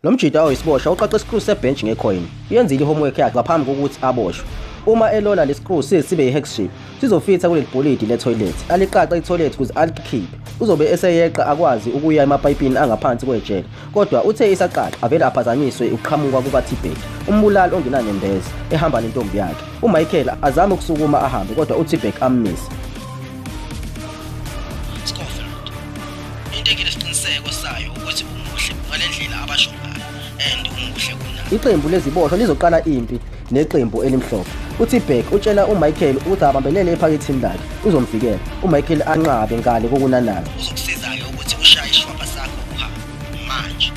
Lo mjita oyisiboshwa uqaqa isikru sebhench ngecoin. Uyenzile i-homework yakhe ngaphambi kokuthi aboshwe. Uma elola lesikru size sibe i-hex shape, sizofitha kuleli bholidi le-toilet. Aliqaqa i-toilet ukuze alikhiphe. Uzobe eseyeqa akwazi ukuya emapayipini angaphansi kwejele. Kodwa uthe isaqaqa avele aphazanyiswe ukuqhamuka kukaTibet, umbulali ongenanembeza, ehamba nentombi yakhe. UMichael azame ukusukuma ahambe kodwa uTibek ammise. Scofield into enginesiqiniseko sayo ukuthi umuhle ngale ndlela abasho ngayo and umuhle kunami Iqembu leziboshwa lizoqala impi neqembu elimhlophe. UTibek utshela uMichael ukuthi abambelele ephakethini lakhe uzomvikela. UMichael anqabe ngale kokunanaza. uzokusiza-ke ukuthi ushaye ishwapha sakho uhambe manje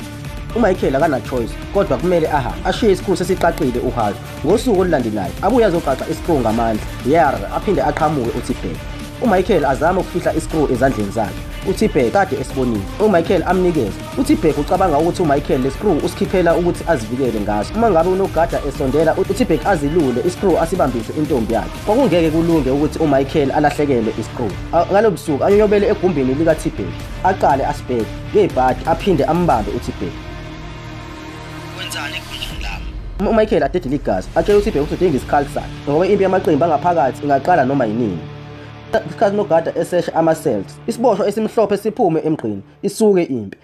UMichael akana choice kodwa kumele aha ashiye isikhulu sesiqaqile uHarvey. Ngosuku olulandelayo abuye azoqaqa i-screw ngamandla yerr aphinde aqhamuke uTibhek. UMichael azama ukufihla i-screw ezandleni zakhe. UTibhek kade esibonile. UMichael amnikeza. UTibhek ucabanga ukuthi uMichael le-screw usikhiphela ukuthi azivikele ngaso. Uma ngabe unogada esondela uTibhek azilule i-screw asibambise intombi yakhe. Kwakungeke kulunge ukuthi uMichael alahlekelwe i-screw. Ngalo busuku anyonyobele egumbini likaTibhek. Aqale asibheke ngebhadi aphinde ambambe uTibhek. Wenzani egunjini lami? UMichael adedile igazi atshela uSiphe ukuthi udinga isikhali sakhe ngoba impi yamaqembu angaphakathi ingaqala noma yinini. Isikhathi nogada esesha ama-cells isiboshwa esimhlophe siphume emgqini isuke impi.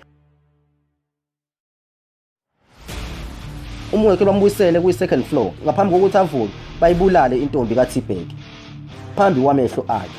umwekhe bambuyisele kwi-second floor ngaphambi kokuthi avuke bayibulale intombi kathibheki phambi kwamehlo akhe